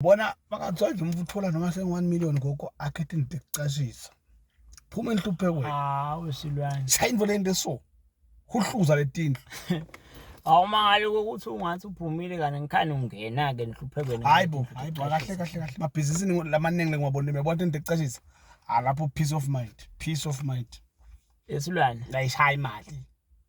bona bangathiwa nje umuntu uthola noma sengu-one million gogo akhethe into ekucashisa phuma enhluphekweni hawu silwane sayinto lento eso huhluza letindlu awumangale ukuthi ungathi uphumile kanti ngikhani ungena-ke enhluphekweni hayi bo hayi bo kahle kahle kahle mabhizinisini lamaningi lengiwabonile uyabona into ekucashisa alapho peace of mind peace of mind esilwane layishaye imali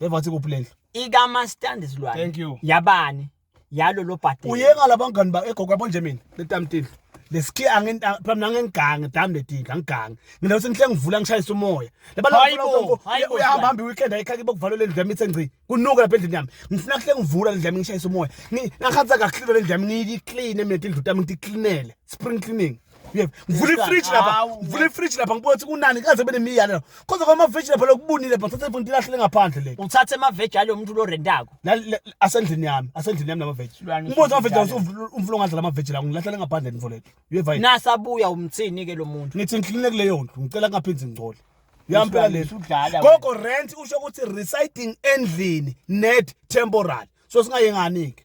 Beva wathi kuphi lendlu? Ikamastandi silwane. Thank you. Yabani? Yalo lo bhadela. Uyeka labangani ba egogo yabo nje mina letamtini. Leski angin phambi nangengange dam letinga ngigange. Mina ukuthi ngihle ngivula ngishayisa umoya. Labantu uyahamba hamba weekend ayikhaki bokuvala lendlu yami ithe ngci. Kunuka lapha endlini yami. Ngifuna kuhle ngivula lendlu yami ngishayisa umoya. Ngakhatha kakhulu lendlu yami ngiyiclean mina indlu tami ngicleanele. Spring cleaning. ngivula ifridge lapha ngivula ifridge lapha ngibona ukuthi kunani kaze benemiyane lapha kodwa kwama veg lapha lokubunile bha thatha ifonti lahle ngaphande le uthathe ama veg alo muntu lo rentako asendlini yami asendlini yami nama veg ngibona ama veg lawo umvulo ngadla lama veg lawo ngilahle ngaphande info lethu uyeva nasabuya umthini ke lo muntu ngithi ngihlinile kuleyo ndlu ngicela kungaphindi ngicole yampela lethu gogo rent usho ukuthi residing endlini net temporary so singayengani ke